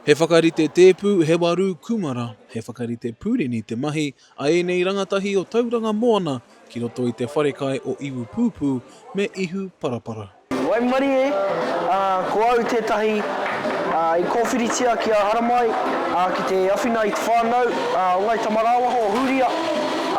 He whakarite tēpu, he warū kūmara, he whakarite pūrini te mahi a ēnei rangatahi o Tauranga Moana ki roto i te wharekai o Iwupūpū me Ihuparapara. Waimarie, ā, ko au tētahi, ā, i kōwhiritia ki a Haramai, ā, ki te awhina i te whānau, ā, o Ngāi Tamarāwaho o Hūria,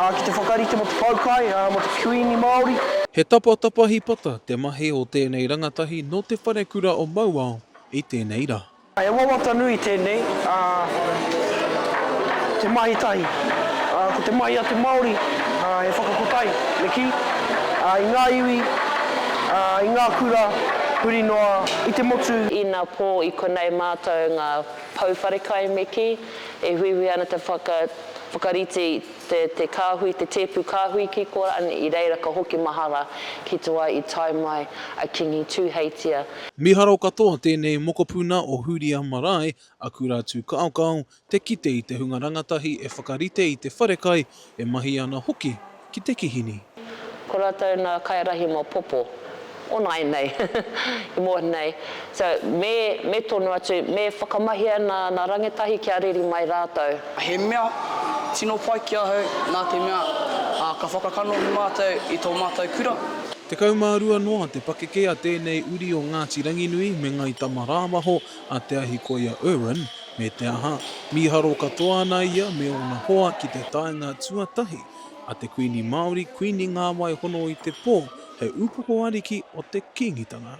ā, ki te whakarite mō te poukai, ā, mō te. Kuini Māori. He tapatapa hipata te mahi o tēnei rangatahi nō te wharekura o Mauao i tēnei rā. He wawata nui tēnei, ā, te mahi tahi, ā, ko te mahi a te Māori, ā, he whakakotahi, me kī, ā, i ngā iwi, ā, i ngā kura huri noa i te motu. Ina pō i konei mātou ngā pou wharekai, me kī, e huihui ana te whakarite i. Te te kāhui, te tēpu kāhui ki kora an i reira ka hoki mahara ki te wā i tae mai a Kingi Tūheitia. Miharo katoa tēnei mokopuna o Hūria Marae, a Kura Tū Kaokao, te kite i te hunga rangatahi e whakarite i te wharekai, e mahi ana hoki ki te kihini. Ko ratou na kairahi mo popo. O naenei i mohi nei so me me tonu atu me whakamahia na na rangetahi kia riri mai ratou. He mea tino pai ki ahau nā te mea ka whakakanohi mātou i tō mātou kura. Tekau mā rua noa te pakeke a tēnei uri o Ngāti Ranginui me Ngai Tama rāwaho a Te Ahikoia Irwin, me te aha, mīharo katoa ana ia me ōna hoa ki te taenga tuatahi. A te Kuini Māori, Kuini Ngāwai Hono i te Pō, he upoko ariki o te Kīngitanga.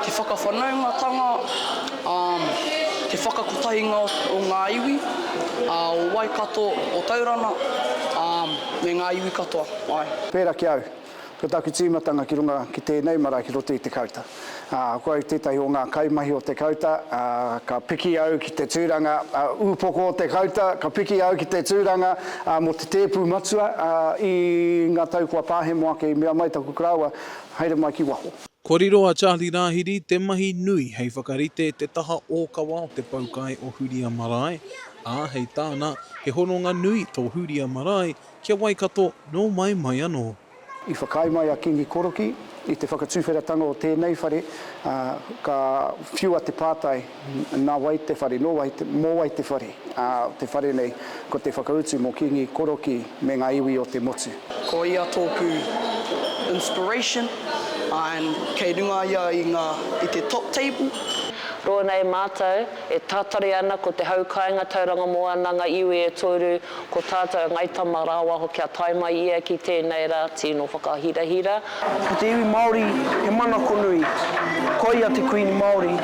Te whakawhanaungatanga, um, te whakakotahinga o ngā iwi, a, o Waikato, o Taurana, um, me ngā iwi katoa, ae. Pērā ki au, Ko taku tīmatanga ki runga ki tēnei marae ki roto i te kauta. Ko au tētahi o ngā kaimahi o te kauta, ka piki au ki te tūranga ūpoko o te kauta, ka piki au ki te tūranga mō te tēpu matua i ngā tau kua pāhemo ake i mea mai taku karaua, haere mai ki waho. Kua riro a Charlie Rāhiri te mahi nui hei whakarite te taha ōkawa o te poukai o Huria Marae, ā, hei tāna, he hononga nui tō Huria Marae Kia Waikato, nō mai mai anō. I whakaae mai a Kīngi Korokī i te whakatuwheratanga o tēnei whare, ā, ka whiua te pātai, Nā wai te whare? Nō wai te, mō wai te whare? Ā, te whare nei, ko te whakautu mō Kīngi Korokī me ngā iwi o te motu. Ko ia tōku inspiration, ā, kei runga ia i ngā, i te top table. Rōnei mātou e tātari ana ko te hau kāinga tauranga moana ngā iwi e toru Ko tātou a Ngai Tama rāua hoki a tae mai ia ki tēnei rā tino whakahirahira. Ko te iwi Māori he manako nui. Ko ia te Kuini Māori,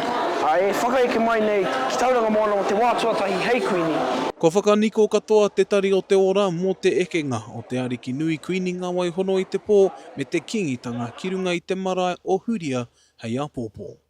ā, e whakaeke mai nei ki Tauranga Moana mō te wā tuatahi hei Kuini. Kua whakaniko katoa Te Tari o te Ora mō te ekenga o te Ariki Nui Kuini Ngāwaihono-i-te-Pō me te Kīngitanga ki runga i te marae o Huria hei apōpō.